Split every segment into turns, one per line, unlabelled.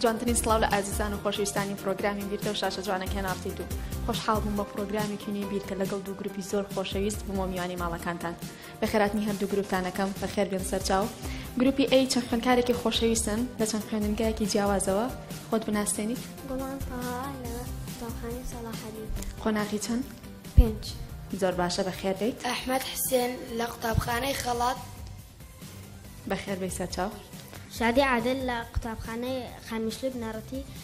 جوانترین سڵاو لە ئازیزان و خۆشویستانی پرۆگرامی بیرتە و شاشە جوانە کەناڕتی دوو خۆشحاڵ بووم بە پرۆگرامی کینی بیرکە لەگەڵ دوو گروپی زۆر خۆشەویست بوومە میوانی ماڵەکانتان بەخێرهاتنی هەردوو گروپتان ئەکەم بەخێربێن سەرچاو گروپی ئەی چەند خوێندکارێکی خۆشەویستن لە چەند خوێندنگایەکی جیاوازەوە خۆت بناسێنیت گوڵان تەها
لە قوتابخانەی سەڵاحەدین قۆناغی چەند
پێنج
زۆر باشە
بەخێر بێیت ئەحمەد حسێن
لە قوتابخانەی خەڵات
بەخێر بێی سەرچاو شادی عادل
لە قوتابخانەی خانمشلی بنەڕەتی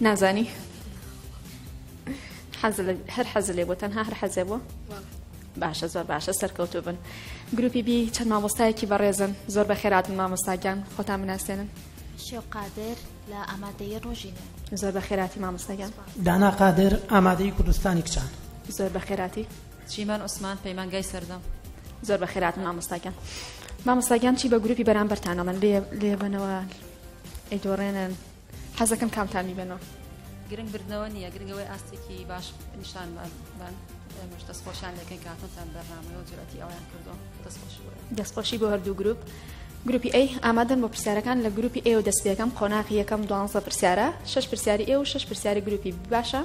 نازانی هەر حەز لێ بۆ تەنها هەر حەزێ بووە باشە زۆر باشە سەرکەوتو بن گروپی بی چەند مامۆستایەکی بەڕێزن زۆر بە خێرات مامۆستاگیان خۆتان مناسێنن شێو قادر
لە ئامادەیە ڕۆژین زۆر بە خێراتی
مامۆستاگیان دانا قادر
ئامادەی کوردستانی کچان زۆر بە خێراتی
چیمەن عوسمان
پەیمانگای سەردەم. زۆر بەخێر هاتن
مامۆستاگیان مامۆستاگیان چی بە گروپی بەرامبەرتانەڵەن لێ لێبنەوە ئەیدۆڕێنن حەزەکەم کامتان میبنەوە گرنگ بردنەوە
نییە گرنگەوەی ئاستێکی باش نیشان بان مش دەستخۆشیان لەکەین کاتۆتان بەرنامەوە و جرەتی ئەویان کردو دەستخۆش دەستخۆشی
بۆ هەردوو گروپ گروپی ئەی ئامادەن بۆ پرسیارەکان لە گروپی ئێوە دەست پێەکەم قۆناغی یەکەم دوانزە پرسیارە شش پرسیاری ئێ و شش پرسیاری گروپی باشە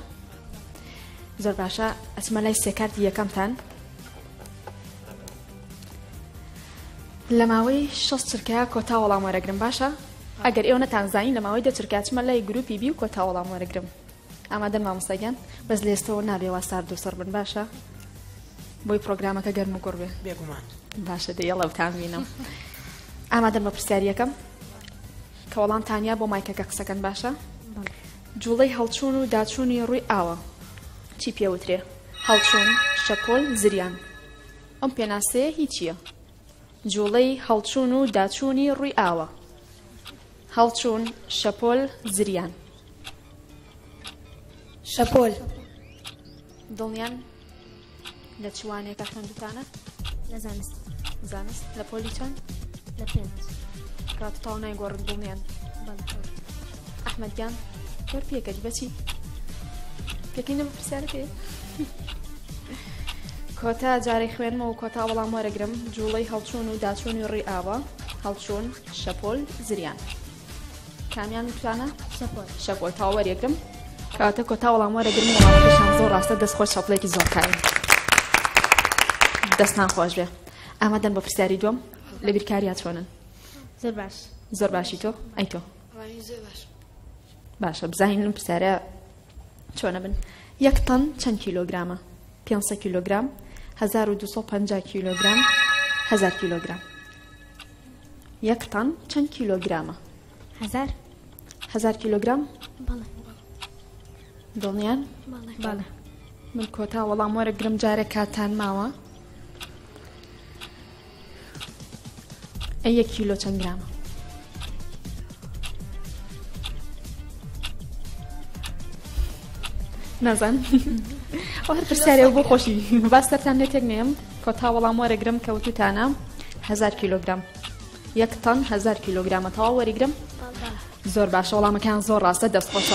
زۆر باشە ئەچمە لای سێکارتی یەکەمتان لە ماوەی شەست چرکەیە کۆتا وەڵام وەرەگرم باشە ئەگەر ئێوە نەتانزانانی لە ماوەی دەچرکچمە لای گروپی بی و کۆتا وەڵام وەرەگرم ئامادەن مامۆستاگیان بەس لێستەوە نابێ وا سارد و سەر بن باشە بۆی پرۆگرامەکە گەرم و گوڕ بێ بێگومان باشە
دە یەڵە
بتانبینم ئامادەن بە پرسیاریەکەم کە وەڵام تانیا بۆ مایکەکە قسەکەن باشە جوڵەی هەڵچوون و داچوونی ڕووی ئاوە چی پێ وترێ؟ هەڵچوون، شەپۆل، زریان. ئەم پێناسەیە هی چییە؟ جوڵەی هەڵچوون و داچوونی ڕووی ئاوە. هەڵچوون، شەپۆل، زریان.
شەپۆل.
دڵنیان؟ لە چ وانەیەکە خوێندوتانە لە زانست
زانست لە
پۆلی چەند لە پێنج
کات تاو
نایگۆڕن بوومیان ئەحمد گیان کۆر پێکەج بەچی پێکەی نەم پرسیارەکە کۆتا جارەی خوێنمەوە کۆتا وەڵام وەرەگرم جوڵەی هەڵچوون و داچوونی ڕێ ئاوە هەڵچوون شەپۆل زریان. کامیان وترانە شەپۆل تا وەرێگرم کاتە کۆتا وەڵام وەرەگرم وڵامەکەشان زۆر ڕاستە دەست خۆش شەپڵێکی زۆر کاری دەستان خۆش بێ ئامادەن بە پرسیاری دوم لە بیرکاریا چۆنن زۆر باش
زۆر باشی تۆ
ئەی تۆ
باشە
بزانین لەم پرسیارە چۆنە بن یەک تەن چەند کیلۆگرامە 500 کیلوگرام 1250 کیلوگرام 1000 کیلوگرام یەک تەن چەند کیلۆگرامە؟ هەزار
هەزار
کیلۆگرام؟
بەڵێ
دڵنیان؟ بەڵێ
بەڵێ من کۆتا
وەڵام وەرەگرم جارێ کاتان ماوە ئە یەک کیلۆ چەند گرامە نازان ئەو هەر پرسیارێ بۆ خۆشی باستەتان لێ تێک نێم کۆتا وەڵام وەرەگرم کە وتوتانە هزار کیلۆگرام یەک تەن هزار کیلۆگرامە تەواو وەریگرم زۆر باشە وەڵامەکان زۆر ڕاستە دەست خۆش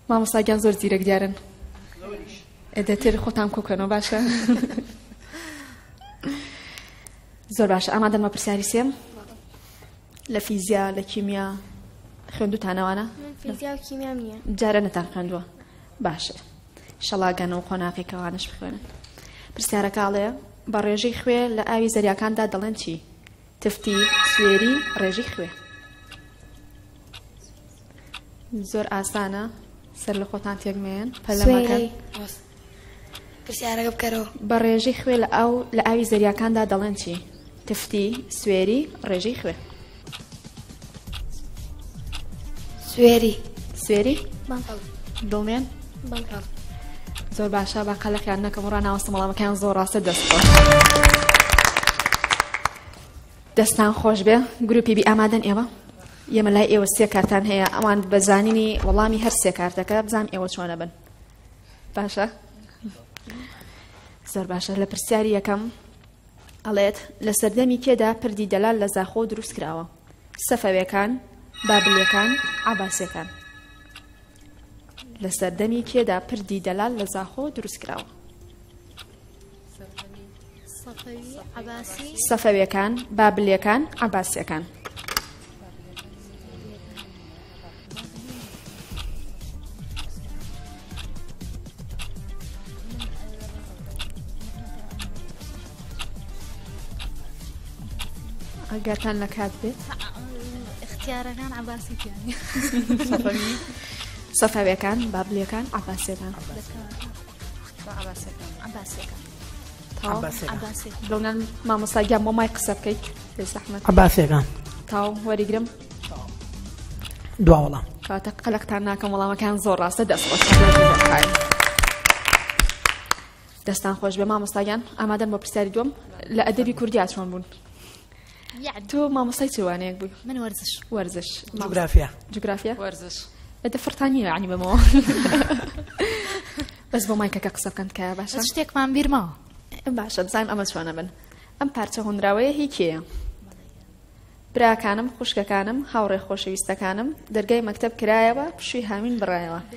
مامۆساگیان زۆر زیرەک دیارن دەتر خۆتان کۆکەنەوە باشە زۆر باشە ئەما دەمە پرسیاری سێم لە فیزیا لە کیمیا خوێندوتانەوانە
جارە نەتان خوێندووە
باشە شەڵا گەنە و قۆناغی کەوانش بخوێنن پرسیارەکاڵێ بە ڕێژەی خوێ لە ئاوی زەریاکاندا دەڵێن چی تفتی سوێری ڕێژی خوێ زۆر ئاسانە سەر لە خۆتان تێگمێن پەلەمەکەن پرسیارەکە
بکەرەوە. بە ڕێژەی خوێ لە
ئاو لە ئاوی زەریاکاندا دەڵێن چی؟ تفتی، سوێری، ڕێژەی خوێ.
سوێری. سوێری؟
بەڵێ.
دڵنیان؟ بەڵێ.
زۆر باشە با قەلەقیان نەکەم و ڕاناوەستم وەڵامەکەیان زۆر ڕاستە دەست دەستان خۆش بێ گروپی بی ئامادەن ئێوە ئێمە لای ئێوە سێ کارتان هەیە ئەوان بە زانینی وەڵامی هەر سێ کارتەکە بزانام ئێوە چۆنە بن باشە زۆر باشە لە پرسیاری یەکەم ئەڵێت لە سەردەمی کێدا پردی دەلال لە زاخۆ دروست کراوە سەفەوێکان بابلەکان عباسەکان لە سەردەمی کێدا پردی دەلال لە زاخۆ دروست کراوە سەفەویەکان، بابلیەکان، عەباسیەکان. ئەگەرتان لە کات بێت اختیارەکان
عباسی
سەفەویەکان بابلیەکان عباسیەکان لەونان مامۆساگیان مۆمای قسە بکەیت بێزەحمە عباسێکان
تاو وەریگرم دوا وەڵام کاتە قەلەقتان
ناکەم وەڵامەکان زۆر ڕاستە دەست خۆش دەستان خۆش بێ مامۆستاگیان ئامادەم بە پرسیاری دوم لە ئەدەبی کوردیا چۆن بوون تۆ مامۆستای چ وانەیەک بووی من وەرزش وەرزش جوگرافیا جوگرافیا وەرزش
بەدە فرتانیە
عنی بەمەوە بەس بۆ مایکەکە قسە بکەن کە باشە شتێکمان بیرماوە
باشە بزان
ئەمە چۆنە بن ئەم پارچە هۆنراوەیە هی کێیە براکانم خوشکەکانم هاوڕێ خۆشەویستەکانم دەرگای مەکتب کرایەوە پشوی هاوین بڕایەوە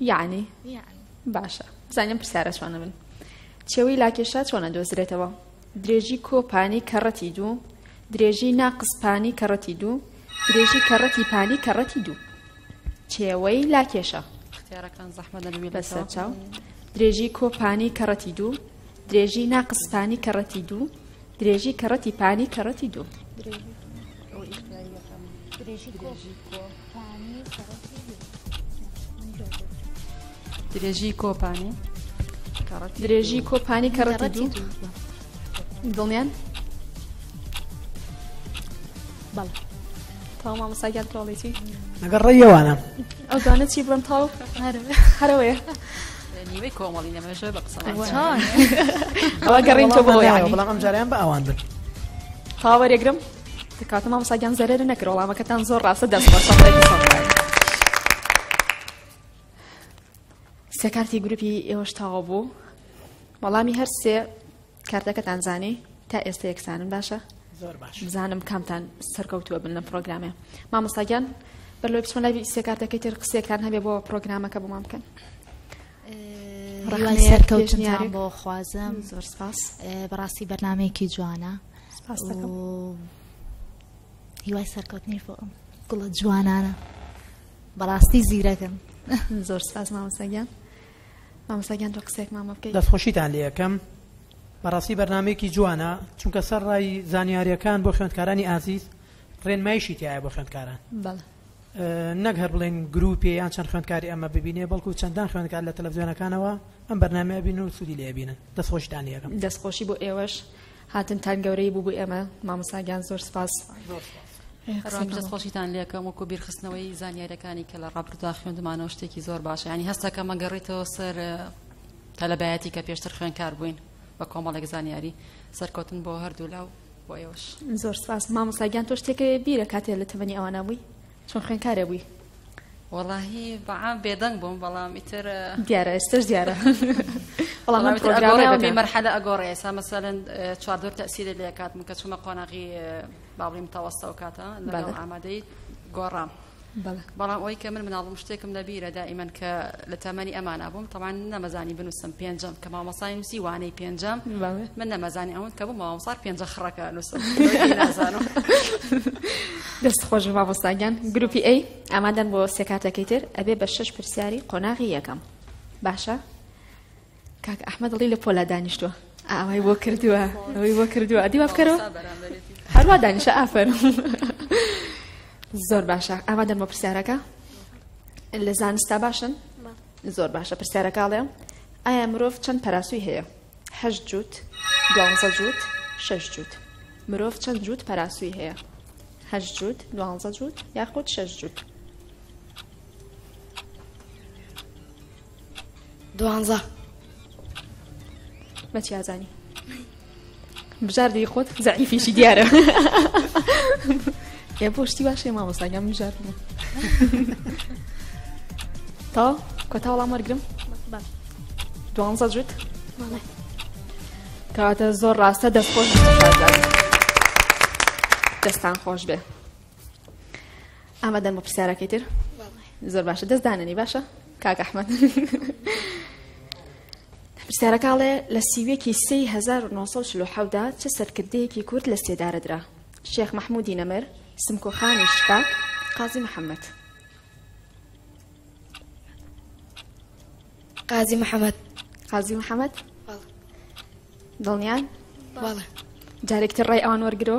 یعنی باشە بزانیم پرسیارە چۆنە من چێوی لاکێشا چۆنە دۆزرێتەوە درێژی کۆپانی کەڕەتی دوو درێژی ناقسپانی کەڕەتی دوو درێژی کەڕەتی پانی کەڕەتی دوو چێوەی لاکێشە اختیارەکان زەحمە
دەبێت بەسەر چاو
درێژی کۆپانی کەڕەتی دوو درێژی ناقسپانی کەڕەتی دوو درێژی کەڕەتی پانی کەڕەتی دوو. درێژی
کۆپانی
درێژی کۆپانی کەڕەتی دوو دڵنیان بەڵ تاو مامەساگیان تۆڵێتی لەگەڵ ڕێیەوانە
ئەوزانە چی
بڵم تاو هەرەوەیە
نیوەی کۆمەڵی لەمێژە
بە قسە ئەوە گەڕین تۆ بەڵام بەڵام ئەم جاریان بە ئەوان بن
پاوەرێگرم
دەکاتە مامۆساگیان زەرەر نەکرد وەڵامەکەتان زۆر ڕاستە دەست بە سێکارتی گروپی ئێوەش تاوا بوو وەڵامی هەرسێ کارتەکەتان زانی تا ئێستا یەکسانن باشە زۆر باش بزانم
کامتان
سەرکەوتووە بن لە پرۆگرامێ مامۆستاگیان بەر لۆی بچمە لای سێکارتەکەی تر قسێکتان هەبێ بۆ پرۆگرامەکە بۆمان بکەن ڕحمە
سەرکەوتنیان بۆ خوازم زۆر سپاس
بەڕاستی
بەرنمەیەکی جوانە هیوای سەرکەوتنی بۆ ئەم گوڵە جوانانە بەڕاستی زیرەکەم زۆر سپاس
مامۆستاگیان مامۆستا گیان تۆ قسەیەکمان بۆ بکەیت دەستخۆشیتان لێ یەکەم
بەڕاستی بەرنمەیەکی جوانە چونکە سەر ڕای زانیاریەکان بۆ خوێندکارانی ئازیز ڕێنمایشی تایە بۆ خوێندکاران نەک هەر بڵێن گروپی یان چەند خوێندکاری ئەمە ببینێ بەڵکو چەندان خوێندکار لە تەلەڤزیۆنەکانەوە ئەم بەرنمە بین و سوودی لێبینن دەستخۆشتان یەکەم دەستخۆشی بۆ ئێوەش
هاتنتان گەورەی بوو بو ئێمە مامۆستا گیان زۆر سپاس. زۆر سپاس. بەڕاستی دەست خۆشیتان
لێکەم وەکو بیرخستنەوەی زانیارەکانی کە لە ڕابردودا خوێندمانەوە شتێکی زۆر باشە ینی هەستەکە مەگەڕیتەوە سەر تەلەبایەتی کە پێشتر خوێنکار بووین بە کۆمەڵێک زانیاری سەرکەوتن بۆ هەردوولا و بۆ ئێوەش زۆر سپاس
مامۆساگیان تۆ شتێکەوە بیرە کاتێ لە تەمەنی ئەوانە بووی چۆن خوێنکارێ بووی؟ وەڵاهی
بەعام بێدەنگ بووم بەڵام ئیتر دیارە ئێستش
دیارە بەڵام
من پرۆگرامی مەرحەلە ئەگۆڕێ ئێستا مەسەلەن چواردۆر تەسیری لێ کاتم کە چوومە قۆناغی باڵی متەوەستە و کاتە لەگەڵ ئامادەی گۆڕام بەڵام ئەوی کە من مناڵم شتێکم لەبیرە دائیمەن کە لە تەمەنی ئەمانە بووم تەوان نەمەزانی بنووسم پێنجم کە مامۆسای نووسی وانەی پێنجەم من نەمەزانی ئەوەند کە بوو مامۆسار پێنجە خڕەکە نووسم
دەست خۆش مامۆستاگیان گروپی ئەی ئامادەن بۆ سێکاتەکەی تر ئەبێ بە شش پرسیاری قۆناغی یەکەم باشە کاک ئەحمە دڵی لە پۆلا دانیشتووە ئاوای بۆ کردووە ئەوەی بۆ کردووە ئەدی وا بکەرەوە هەروە دانیشە ئافەر زۆر باشە ئامادەن بۆ پرسیارەکە لە زانستا باشن زۆر باشە پرسیارەکە ئەڵێم ئایا مرۆڤ چەند پەراسوی هەیە هەشت جووت دوانزە جووت شش جووت مرۆڤ چەند جووت پەراسوی هەیە هەشت جووت دوانزە جووت یاخود شش جووت
دوانزە
مەچی ئازانی بژاردی خۆت زعیفیشی دیارە ئێ بۆ شتی باشێ مامۆستاگەم بژاردن تا کۆتا وەڵام وەرگرم دوانزە جوت کەواتە زۆر ڕاستە دەستخۆش دەستان خۆش بێ ئامادەن بۆ پرسیارەکەی تر زۆر باشە دەست داننی باشە کاک ئەحمد پرسیارەکەڵێ لە سیوێکی 1970دا چه سەرکردەیەکی کورد لە سێدارەدرا شێخ مححمودی نەمر سمکۆخانی شکاک قازی محەممەد
قازی محەممەد قازی محەممەد
دڵنیان بەڵێ
جارێکتر
ڕێ ئەوان وەرگرۆ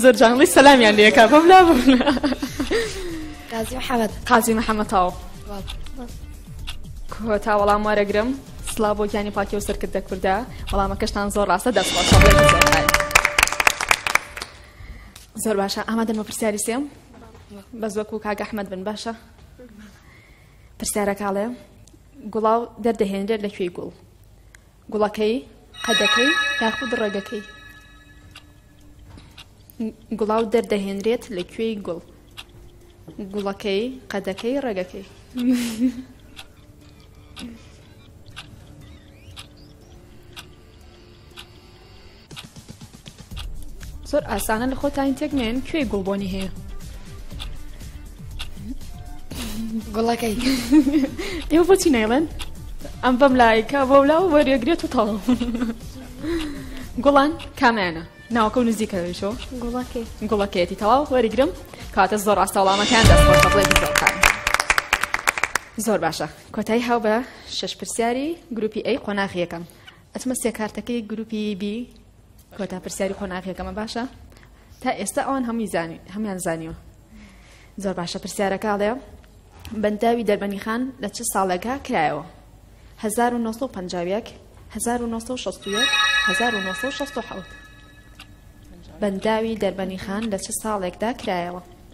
زۆر جانڵی سەلامیان لەکە بەم لا قازی محەممەد
قازی محەممەتاوە
کۆتا وەڵام وارەگرم سلا بۆ گیانی پاکی و سەرکرد دە کووردا وەڵامەکەشتان زۆر ڕاستە دەست زۆر باشە ئامادە مەپرسیاری سێم بەس وەکو کاک ئەحمەد بن باشە پرسیارەکاڵێ گوڵاو دەردەهێنرێت لە کوێی گوڵ گوڵەکەی قەدەکەی یاخود ڕێگەکەی گوڵاو دەردەهێنرێت لە کوێی گوڵ گوڵەکەی قەدەکەی ڕێگەکەی زۆر ئاسانە لە خۆتانی تێک نێن کوێی گوڵ بۆنی هەیە
گوڵەکەی
ئێوە بۆچی نەیڵێن ئەم بەم لایکە بۆ لا و وەرێگرێت و تەڵ گوڵان کامانە ناوکە و نزیکەوێشەوە گوڵەکەی گوڵەکەیەتی تەواو وەریگرم کاتە زۆر ڕاستە وڵامەکان دەست بڵێ زۆر باشە کۆتای هاو بە شەش پرسیاری گروپی ئەی قۆناغ یەکەم ئەچمە سێ کارتەکەی گروپی بی کۆتا پرسیاری قۆناغ یەکەمە باشە تا ئێستا ئەوان هەمووی زانی هەمان زانیوە زۆر باشە پرسیارەکەڵێ بەنداوی دەربەنی خان لە چ ساڵێکە کرایەوە 1950 1960 1960 بەنداوی دەربەنی خان لە چ ساڵێکدا کرایەوە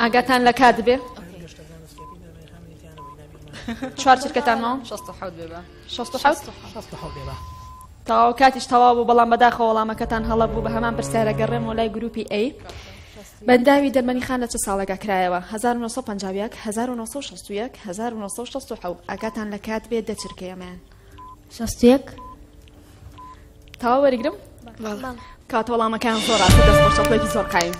ئاگاتان لە کات بێ چوار چرکەتان ماوە تاوا کاتیش تەوا بوو بەڵام بەداخە وەڵامەکەتان هەڵە بوو بە هەمان پرسیارە گەڕێم و لای گروپی ئەی بەنداوی دەرمەنی خان لە چ ساڵێکا کرایەوە 1950 1960 ئاگاتان لە کات بێ دەچرکەیەمان شەست و
یەک
تاوا وەرگرم کاتە وەڵامەکان زۆر ڕاستە دەست خۆش شەڵێکی زۆر قایم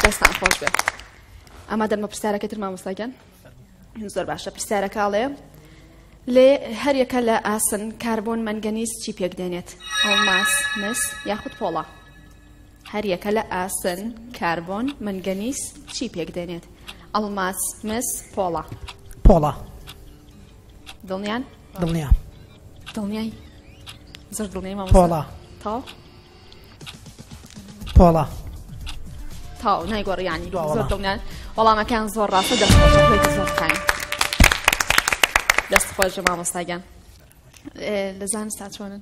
دەستان خۆش بێت ئەما دەرمە پرسیارەکە تر مامۆستاگەن زۆر باشە پرسیارەکەڵێ لێ هەریەکە لە ئاسن کاربۆن مەنگەنیز چی پێکدێنێت ئەڵماس مس یاخود پۆڵە هەر یەکە لە ئاسن، کاربۆن، مەنگەنیس چی پێک دێنێت؟ ئەڵماس، مس، پۆڵا. پۆڵا. دڵنیان؟ دڵنیا. دڵنیای؟ زۆر دڵنیای مامۆستا. پۆڵا. تاو؟
پۆڵا.
تاو نایگۆڕیانی دوا زۆر دڵنیان وەڵامەکان زۆر ڕاستە دەخۆشەکەی زۆر خاین. دەست خۆش مامۆستاگیان لە زانستا چۆنن؟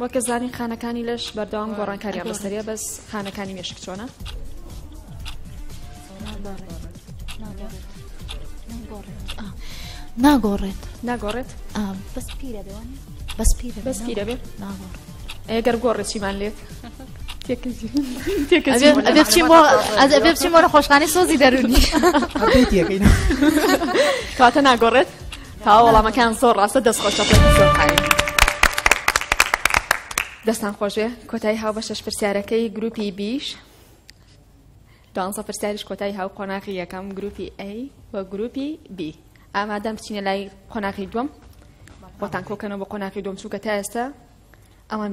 وەکە زانین خانەکانی لەش بەردەوام گۆڕانکاریان بەسەریە بەس خانەکانی مێشک چۆنە
ناگۆڕێت ناگۆڕێت
بەس پیرە بەس پیرە بەس پیرە
بێت ناگۆڕ ئەگەر
گۆڕێکیمان لێت
بچین بۆ خۆشخانی سۆزی دەرونی
کاتە ناگۆڕێت تا وەڵامەکان زۆر ڕاستە دەست خۆشە دەستان خۆشێ کۆتایی هاو بە شەش پرسیارەکەی گروپی بیش دوانسە پرسیاریش کۆتایی هاو قۆناغی یەکەم گروپی ئە و گروپی بی ئامادەم بچینە لای قۆناغی دوم بۆتان کۆکەنەوە بە قۆناغی دوم چووکە تا ئێستا ئەوان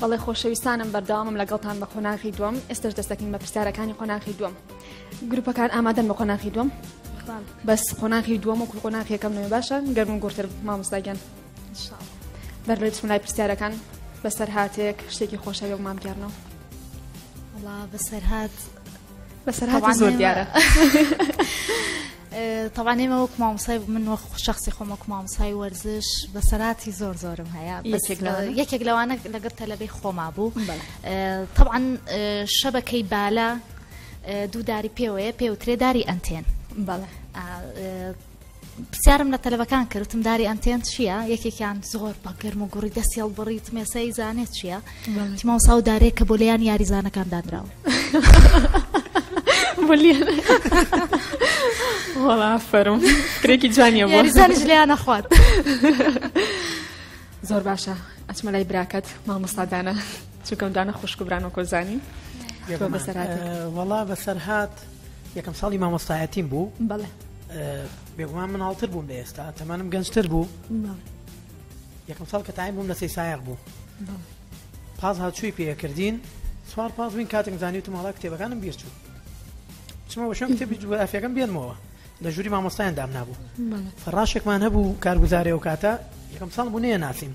بەڵێ خۆشەویستانم بەرداوامم لەگەڵتان بە قۆناغی دوم ئێستش دەستەکەین بە پرسیارەکانی قۆناغی دوم گروپەکان ئامادەن بە قۆناغی دوم بەس قۆناغی دووەم و قۆناغیەکەم نوێ باشە گەرمون گورتر مامۆستاگەن بەر لە بسم لای پرسیارەکان بەسەر هااتێک شتێکی خۆشەوێ و مامگەرنەوە
بەسەرهات
بەسەرهاتی زۆر دیارە
تەوان ئێمە وەک مامسای من وە شخصی خۆمە مامسای وەرزش بەسەراتی زۆر زۆرم هەیە یەکێک لەوانە لەگەر تەلەبەی خۆما بوو طبعاان شەبەکەی بالا دووداری پێوەیە پێوترێداری ئەنتێن بەڵێ پرسیارم لە تەلەبەکان کرد وتم داری ئەنتێن چییە یەکێکیان زۆر بە گەرم و گوڕی دەستی هەڵبڕیت مێسەی زانێت چییە بەڵێ. تیما ساو دارێک کە بۆ لێیان یاریزانەکان دانراوە بلیێن
وەڵا فەرم کرێکی جوانیە بۆ یاریزانش لێیان نەخوات زۆر باشە ئەچمە لای براکەت مامۆستادانە چونکەم دانە خوشک و بران و کۆزانی تۆ بەسەرهاتێک.
وەڵا بەسەرهات یەکەم ساڵی مامۆستایەتیم بوو بەڵێ
بێگومان
مناڵتر بووم لە ئێستا تەمانم گەنجتر بوو یەکەم ساڵ کە تایم بووم لە سی سایق بوو پاس هاچووی پێکردین سوار پاس بووین کاتێک زانانی و ماڵا کتێبەکانم بیرچوو چمە شوێن کتێبی جوگرافیەکەم بێنمەوە لە ژووری مامۆستایان دام نبوو فڕاشێکمان هەبوو کارگوزارێ و کاتە یەکەم ساڵ بوو نێ ناسیم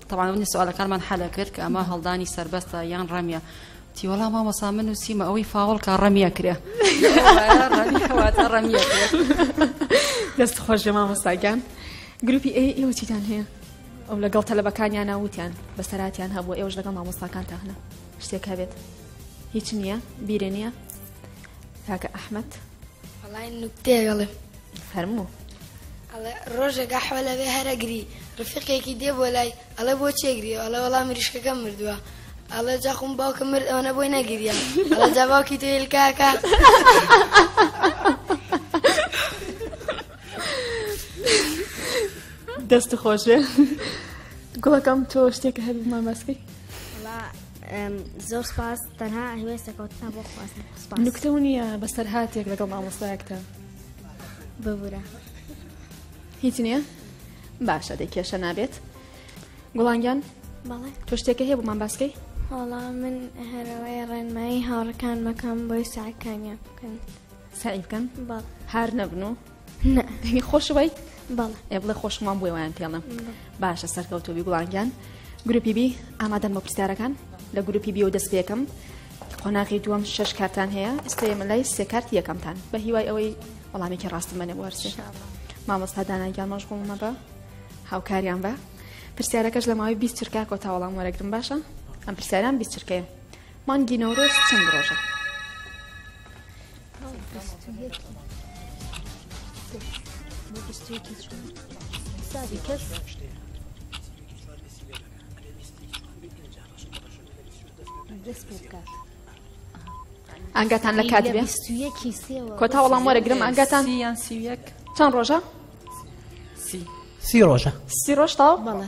تەبعەن ئەوەنی سوالەکانمان حەلە کرد کە ئەمە هەڵدانی سەربەستە یان ڕەمیە تیوەڵا مامۆسا من و سیمە ئەوەی فاوڵ کا ڕەمیە کرێ ڕەمیە
دەست خۆش لە مامۆستاگیان گروپی ئەی ئێوە چیتان هەیە ئەو لەگەڵ تەلبەکانیان ناوتیان بەسەراتیان هەبوو ئێوەش لەگەڵ مامۆستاکان تاهنە شتێک هەبێت هیچ نییە بیرە نییە کاکە ئەحمد بەڵای
نوکتێگەڵێ فەرموو.
ئەڵێ،
ڕۆژێک قەحوە لەوێ هەر ئەگری، ڕفیقێکی دێ بۆ لای، ئەڵێ بۆچی ئەگری؟ ئەڵێ، وەڵا مریشکەکەم مردووە. ئەڵێ، جا خۆم باوکم مرد ئەوەنە بۆی نەگریا. ئەڵێ، جا باوکی تۆ هێلکاکە.
دەست خۆش بێ گوڵەکەم تۆ شتێکە هەبوو ماماسکەی؟ وەڵا
زۆر سپاس. تەنها هەوێس دەکەوتنە بۆ خواستن سوپاس نکتە و نییە
بەسەرهاتێک لەگەڵ مامۆستایەکتە
ببورە
هیچ نییە باشە دەی کێشە نابێت گوڵانگیان بەڵێ
تۆ شتێکە هەیە بۆمان
باسکەی هەڵا من
هەرەوەی ڕێنمایی هاوڕەکان مەکەم بۆی ساکانیان بکەن سعی بکەن
بەڵ هار نەبن
و
نا دەنگی
خۆش ویت
بەڵێ ئێ بڵێ
خۆشمان بووی
وایان پێڵم باشە سەرکەوتوبی گوڵانگیان گروپی بی ئامادەن بە پرسیارەکان لە گروپی بیەوە دەست پێکم قۆناغی دووەم شش کارتان هەیە ئێستا ئێمە لای سێ کارت یەکەمتان بە هیوای ئەوەی وەڵامێکی ڕاستمەێ وەرچێ مامۆستا دانانگیان مەش بوومە بە هاوکاریان بە پرسیارەکەش لە ماوەی بیست چرکا کۆتا وەڵام وەرەگرم باشە ئەم پرسیاران بیست چرکەیە مانگی نەورۆز چەند ڕۆژە ئەنگەتان لە کات کۆتا وەڵام وەرەگرم ئەنگەتان یان سی
چەند ڕۆژە
سی ڕۆژە سی ڕۆژ تاو بەڵێ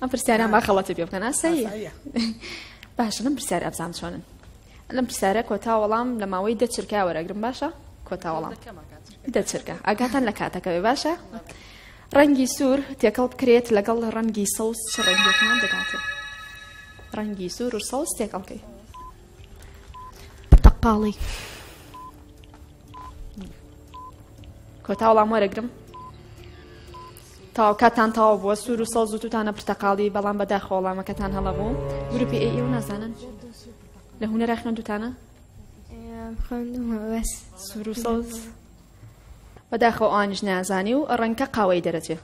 ئەم پرسیاران با خەڵەتی پێ بکەن ئاساییە باشە لەم پرسیار ئەبزان چۆنن لەم پرسیارە کۆتا وەڵام لە ماوەی دە چرکا وەرەگرم باشە کۆتا وەڵام دە چرکە ئاگاتان لە کاتەکەوێ باشە ڕەنگی سوور تێکەڵ بکرێت لەگەڵ ڕەنگی سەوز چ ڕەنگێکمان دەگاتێت ڕەنگی سوور و سەوز تێکەڵکەی
تەقاڵی
کۆتا وەڵام وەرەگرم تاو کاتان تاوا بووە سوور و سەوز و توتانە پرتەقاڵی بەڵام بەدا خۆڵامەکەتان هەڵە بوو گروپی ئەی ئێوە نازانن لە هوەرە خوێندوتانە سوور و سەوز بەداخەوە ئانیش نازانی و ڕەنکە قاوەی دەرەچێ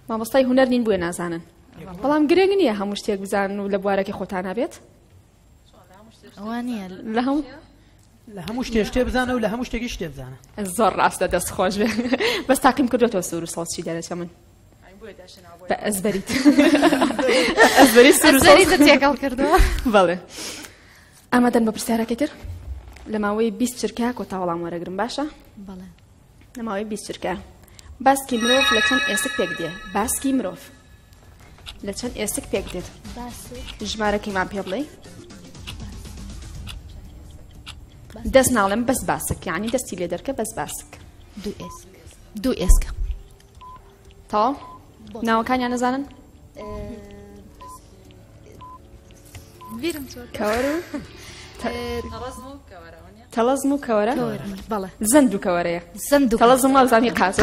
مامۆستای هوەر نین بووە نازانن بەڵام گرنگ نییە هەموو شتێک بزان و لە بوارەکە خۆتانە بێت ئەوانە
لە هەموو
لە هەموو شتێ شتێ بزانە و لە هەموو شتێکی شتێ بزانە زۆر ڕاستە دەست
خۆش بێ بەس تاقیم کردوێتەوە سوور و سەڵچی دەرەچە من بە ئەزبەریت ئەزبەری سوور تێکەڵ کردەوە
بەڵێ
ئامادەن بە پرسیارەکەی تر لە ماوەی بیست چرکە کۆتاوەڵام وەرەگرم باشە بەڵێ
نەماوەی بیست
چرکە باسکی مرۆڤ لە چەند ئێسک پێک دێ باسکی مرۆڤ لە چەند ئێسک پێک دێت ژمارەکەیمان پێ بڵێ دەست ناڵێم بەس باسک یعنی دەستی لێ دەرکە بەس باسک دوو ئێسک
دوو ئێسکە
تاو ناوەکانیان نەزانن بیرم کەوەر و تەڵەزم و کەوەرە زەند
و کەوەرەیە
زەند و تەڵەزم وازانی
قاچ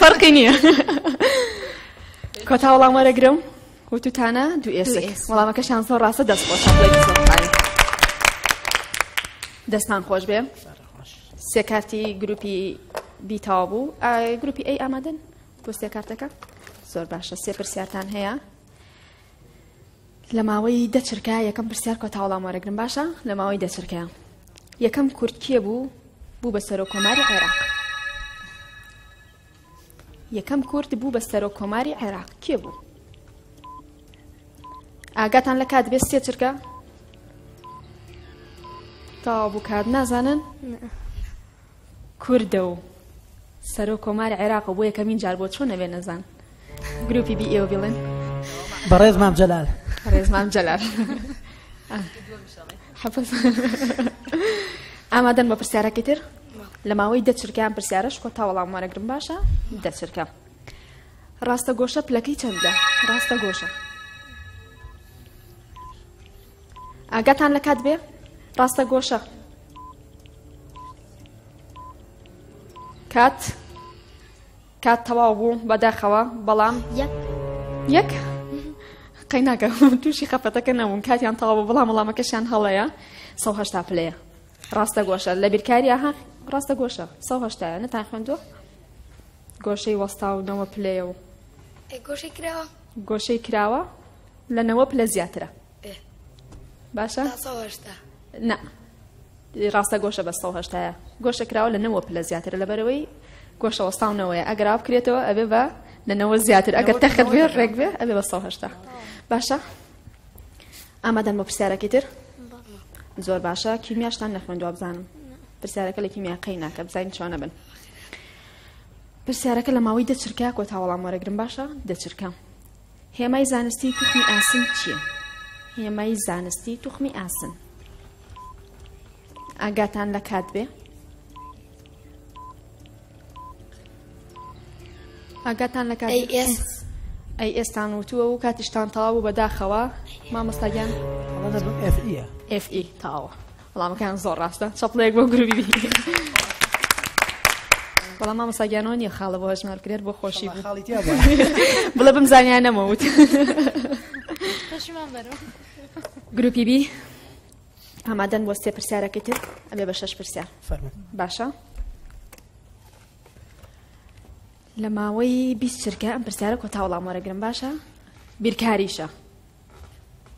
فەرقی نییە کۆتا وەڵام وەرەگرم وتوتانە دوو ئێسک وەڵامەکەشان زۆر ڕاستە دەست خۆش دەستان خۆش بێ سێ کارتی گروپی بیتاوا بوو گروپی ئەی ئامادەن بۆ سێ کارتەکە زۆر باشە سێ پرسیارتان هەیە لە ماوەی دە چرکە یەکەم پرسیار کۆتا وەڵام وەرەگرن باشە لە ماوەی دە چرکەیە یەکەم کورد کێ بوو بوو بە سەرۆک کۆماری عێراق یەکەم کورد بوو بە سەرۆک کۆماری عێراق کێ بوو ئاگاتان لە کات بێت سێ چرکە تاوا بوو کات نازانن کوردە و سەرۆک کۆمار عێراقە و بۆ یەکەمین جار بۆ چۆن نەبێ نەزان گروپی بی ئێوە بیڵێن بەڕێز
مام جەلال بەڕێز مام جەلال
ئامادەن بە پرسیارەکەی تر لە ماوەی دەچرکیان پرسیارش کۆ تا وەڵام وەرەگرم باشە دەچرکە ڕاستە گۆشە پلەکەی چەندە ڕاستە گۆشە ئاگاتان لە کات بێ ڕاستە گۆشە کات کات تەواو بوو بەداخەوە بەڵام یەک قەیناکە تووشی خەفەتەکە نەبوون کاتیان تەواو بوو بەڵام وڵامەکەشیان هەڵەیە سەهشتا پلەیە ڕاستە گۆشە لە بیرکاریە ها ڕاستە گۆشە سەهشتایە نەتان خوێندوە گۆشەی وەستا و نەوە پلەیە و گۆشەی کراوە گۆشەی کراوە لە نەوە پلە زیاترە باشە نا ڕاستە گۆشە بە سە هشتاە گۆشە کراوە لە نەوە پلە زیاترە لەبەرەوەی گۆشە وەستاونەوەی ئەگەرا بکرێتەوە ئەبێ بە لە نەوە زیاتر ئەگەر تەخت بێ ڕێک بێ ئەبێ بە سە هشتا باشە ئامادەن بە پرسیارەکەی تر زۆر باشە کیمیاشتان نەخوێن دوابزانم پرسیارەکە لە کیمیاقەی ناکە بزانین چۆنە بن پرسیارەکە لە ماوەی دە چرکە کۆتا وەڵام وەرەگرم باشە دە چرکە هێمای زانستی توخمی ئاسن چییە هێمای زانستی توخمی ئاسن ئاگاتان لە کات بێ ئاگاتان لە کات ئەی ئێستان وتووە و کاتیشتان تەواو و بەداخەوە مامۆستاگیان FE تاوە وەڵامەکەیان زۆر ڕاستە چەپڵەیەک بۆ گروبی بەڵام مامەساگیانەوە نیە خاڵە بۆ هەژمار کرێت بۆ خۆشی بڵە
بم
زانیان نەمەوت گروپی بی ئامادەن بۆ سێ پرسیارەکەی تر ئەبێ بە شەش پرسیار باشە لە ماوەی بیست چرکە ئەم پرسیارە کۆتاوڵام وەرەگرم باشە بیرکاریشە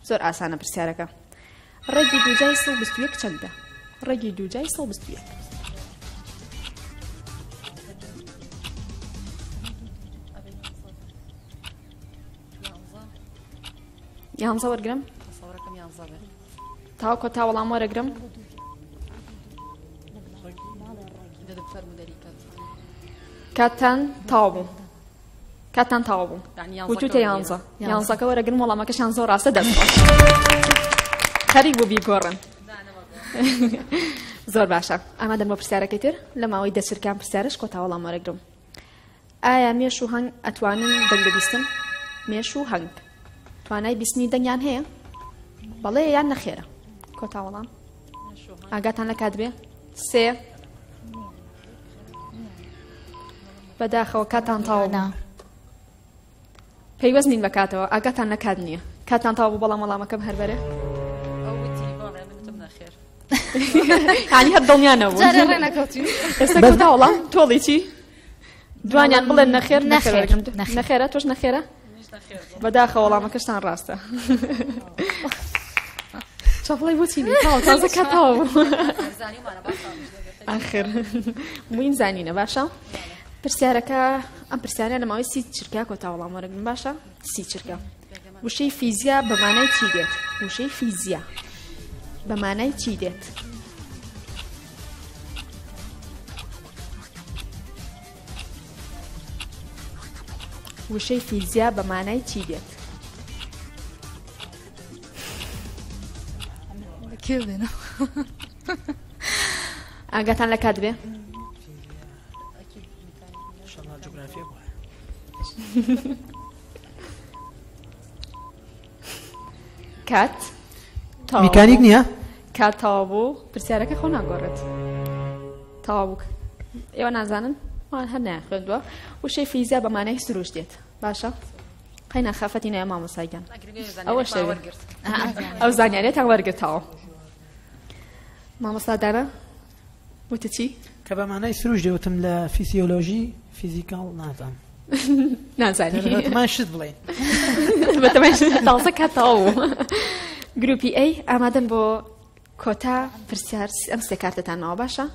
زۆر ئاسانە پرسیارەکە ڕێگی دوجای سڵ بستویەک چەندە ڕێگی دوجای سڵ بستویەک یانزە وەرگرم تاوکۆ تا وەڵام وەرەگرم کاتتان تاو بوو کاتتان تەواو بوو وتوتە یانزە یانزەکە وەرە گرم وەڵامەکەشان زۆر ڕاستە دەست خەریک بوو بیگۆڕن زۆر باشە ئەمە دەمە پرسیارەکەی تر لە ماوەی دەچرکان پرسیارش کۆتا وەڵام وەرەگرم ئایا مێش و هەنگ ئەتوانن دەنگ بیستن مێش و هەنگ توانای بیستنی دەنگیان هەیە بەڵێ یان نەخێرە کۆتا وەڵام ئاگاتان لە کاتبێ سێ بەداخەوە کاتان تاوە نا پەیوەست نین بە کاتەوە ئاگاتان لە کات نییە کاتان تاوە بوو بەڵام وەڵامەکەم هەر بەرێ هانی هەر دڵنیانە بوو جارێ ڕێ نەکەوتین ئێستا کەوتا وەڵام تۆڵی چی؟ دوانیان بڵێن نەخێر نەخێر نەخێرە تۆش نەخێرە بەداخە وەڵامەکەشتان ڕاستە چاپڵی بۆچی تازە کاتاوە ئاخر موین زانینە باشە پرسیارەکە ئەم پرسیارە لە ماوەی سی چرکە کۆتا وەڵام وەرەگرن باشە سی چرکە وشەی فیزیا بەمانای چی دێت وشەی فیزیا بەمانای چی دێت؟ وشەی فیزیا بە مانای چی دێت؟ کێ بێنە؟ ئاگاتان لە کات بێ؟ شەڵا جوگرافیە بووە. کات
میکانیک نییە؟ کات تەوا بوو
پرسیارەکە خۆ ناگۆڕێت تەوا بوو ئێوە نازانن وان هەر نایان خوێندووە وشەی فیزیا بەمانای سروش دێت باشە قەینا خەفەتی نایە مامۆسایگەن ئەوە شتێ ئەو زانیارێتان وەرگتەوە مامۆسادارە وتت چی؟ کە بە مانای سروش
دەوتم لە فیسیۆلۆژی فیزیکاڵ نازانم. نازانی
بەتەمای شت بڵێین
بەتەمای
تازە کات تەواو بوو گروپی ئەی ئامادەن بۆ کۆتا پرسیار ئەم سێ کارتتانەوە باشە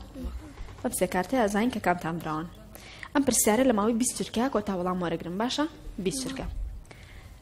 ئەم سێ کارتە ئازین کە کامتان براون ئەم پرسیارە لە ماوەی بیست چرکە کۆتا وەڵام وەرەگرم باشە بیست چرکە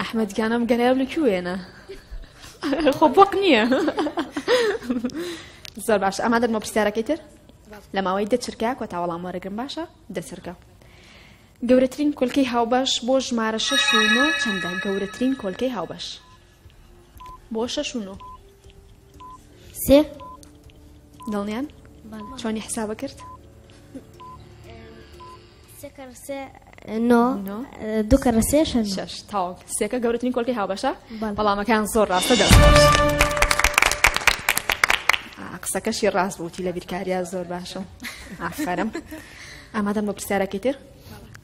ئەحمەد گیان ئەم گەرایە لە کوێنە خۆ بۆق نییە زۆر باش ئەما دەمە پرسیارەکەی تر لە ماوەی دەچرکە کۆ تاوەڵام وەرەگرم باشە دەچرکە گەورەترین کۆلکەی هاوبەش بۆ ژمارە شەش و نۆ چەندە گەورەترین کۆلکەی هاوبەش بۆ شەش و نۆ
سێ
دڵنیان چۆنی حسابە کرد سێکە گەورترین کۆلکەی هاوبەشە بەڵامەکان زۆر ڕاستە دە قسەکەشی ڕاست بووتی لە بیرکاریا زۆر باشە ئافرم ئامادەم بۆ پرسیارەکەی تر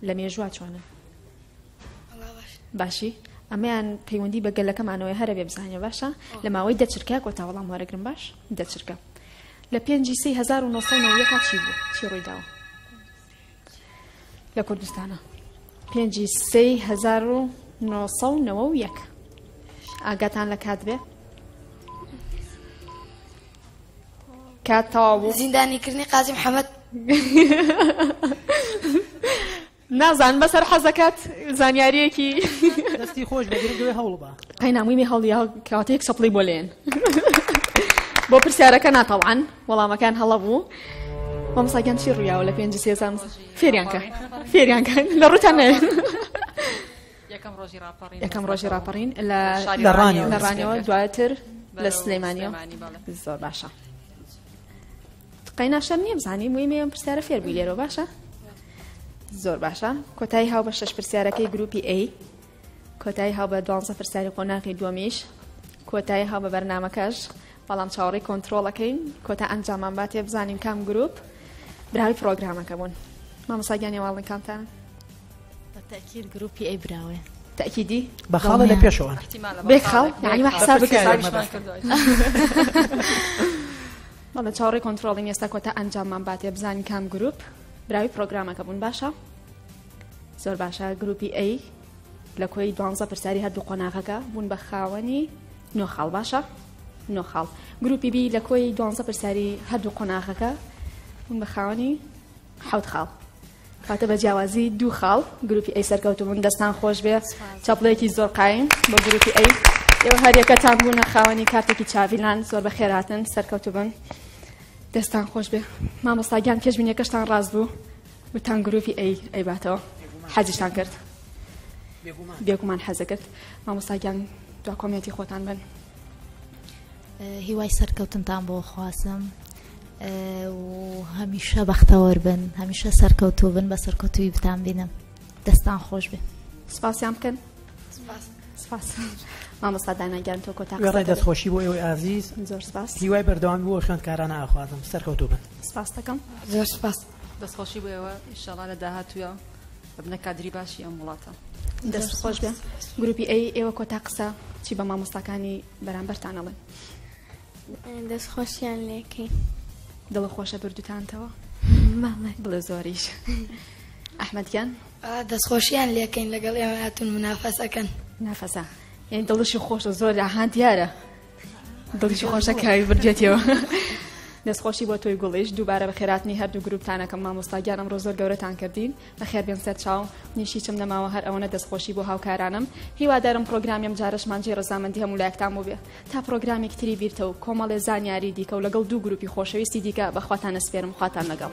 لە مێژووا چۆنە باشی ئەمەیان پەیوەندی بە گەلەکەمانەوەی هەرە بێ بزانە باشە لە ماوەی دەچرکە کۆتا وەڵام وەرەگرم باش دەچرکە لە پێنجی سی 1970 چی بوو چی ڕوویداوە لە کوردستانە پێنجی سێی هزار و نۆسە و نەوە و یەک ئاگاتان لە کات بێ کات تەواو بوو زیندانیکردنی قازی محەممەد نازان بەسەر حەزەکەت زانیاریەکی دەستی
خۆش بەگرگوێ هەوڵ بە قەی نامویی هەڵیا
کاتێک سەپڵی بۆ لێن بۆ پرسیارەکە ناتەوان وەڵامەکان هەڵە بوو. مامۆستا گیان چی ڕوویاوە لە پێنج سێزان فێریان کە فێریان کە لە ڕوتان نێن. یەکەم ڕۆژی ڕاپەڕین یەکەم ڕۆژی ڕاپەڕین لە شاری لە ڕانیەوە لە ڕانیەوە دواتر لە سلێمانیەوە سلێمانی بەڵێ زۆر باشە قەینا شەر نییە بزانانی مویمێ ئەم پرسیارە فێر بووی لێرەوە باشە زۆر باشە کۆتایی هاو بە شەش پرسیارەکەی گروپی ئەی کۆتایی هاو بە دوانزە پرسیاری قۆناغی دووەمیش کۆتایی هاو بە بەرنمەکەش بەڵام چاوەڕی کۆنتترۆڵەکەین کۆتا ئەنجامان با تێ بزانین کام گروپ براوی پرۆگرامەکە بوون مامەساگیانی واڵنکانتان بەتەکیل
گروپی ئەی براوێ تأكيدي
بخاڵە لە پێشەوە
بێخاڵ یعنی
حساب بەڵە چاوەڕی کۆنتترۆڵین ئێستا کۆتا ئەنجاممان باتێ بزانین کام گروپ براوی پرۆگرامەکە بوون باشە زۆر باشە گروپی ئەی لە کۆی دوانزە پرسیاری هەردوو قۆناغەکە بوون بە خاوەنی نۆ خاڵ باشە نۆ خاڵ گروپی بی لە کۆی دوانزە پرسیاری هەردوو قۆناغەکە بوون بە خاوەنی حەوت خاڵ کاتە بە جیاوازی دوو خاڵ گروپی ئەی سەرکەوتبوون دەستان خۆش بێ چاپڵەیەکی زۆر قایم بۆ گروپی ئەی ئێوە هەریەکەتان بوونە خاوەنی کارتێکی چاڤیلان زۆر بە خێراتن سەرکەوتبن دەستان خۆش بێ مامۆستاگیان پێشبینیەکەشتان ڕاست بوو وتتان گروپی ئەی ئەیباتەوە حەزیشتان کرد بێگومان حەزەکرد مامۆستاگیان دو کۆمێنتی خۆتان بن هیوای
سەرکەوتنتان بۆ خوازم هەمیشە بەختەوەر بن هەمیشە سەرکەوتو بن بە سەرکەوتوی بتان بینم دەستان خۆش بێ سپاسیان بکەن
سپاس مامۆستا داناگیان تۆ کۆتا ڕێ دەستخۆشی بۆ ئێوەی
ئازیز زۆر سپاس هیوای
بەردەوام بۆ
خوێندکارانە ئاخوازم سەرکەوتو بن سپاس دەکەم
زۆر سپاس
دەست خۆشی بۆ ئێوە
ئیشەڵا لە داهاتووە ببنە کادری باشی ئەم وڵاتە دەست خۆش
بێ گروپی ئەی ئێوە کۆتا قسە چی بە مامۆستاکانی بەرامبەرتان ئەڵێن دەست خۆشیان
لێکەین دڵە خۆشە
بردوتانتەوە بڵێ زۆریش ئەحمەدگیان دەستخۆشییان
لەکەین لەگەڵ ئێمە هاتون منافەسەکەن نافەسا
یعنی دڵشی خۆشە زۆر ئاهان دیارە دڵیشی خۆشە کاوی بردێتەوە دەستخۆشی بۆ تۆی گوڵیش دووبارە بە خێراتنی هەردوو گروپتانەکەم مامۆستاگیان ئەمڕۆ زۆر گەورەتان کردین بە خێر بێن سەر چاو نیشی چم نەماوە هەر ئەوەنە دەستخۆشی بۆ هاوکارانم هیوادارم پرۆگرامیم جارشمانجی ڕزامەندی هەموو لایەکتان بوو بێ تا پرۆگرامێک تری بیرتە و کۆمەڵێ زانیاری دیکە و لەگەڵ دوو گروپی خۆشەویستی دیکە بەخواتان نەسپێرم خواتان لەگەڵ.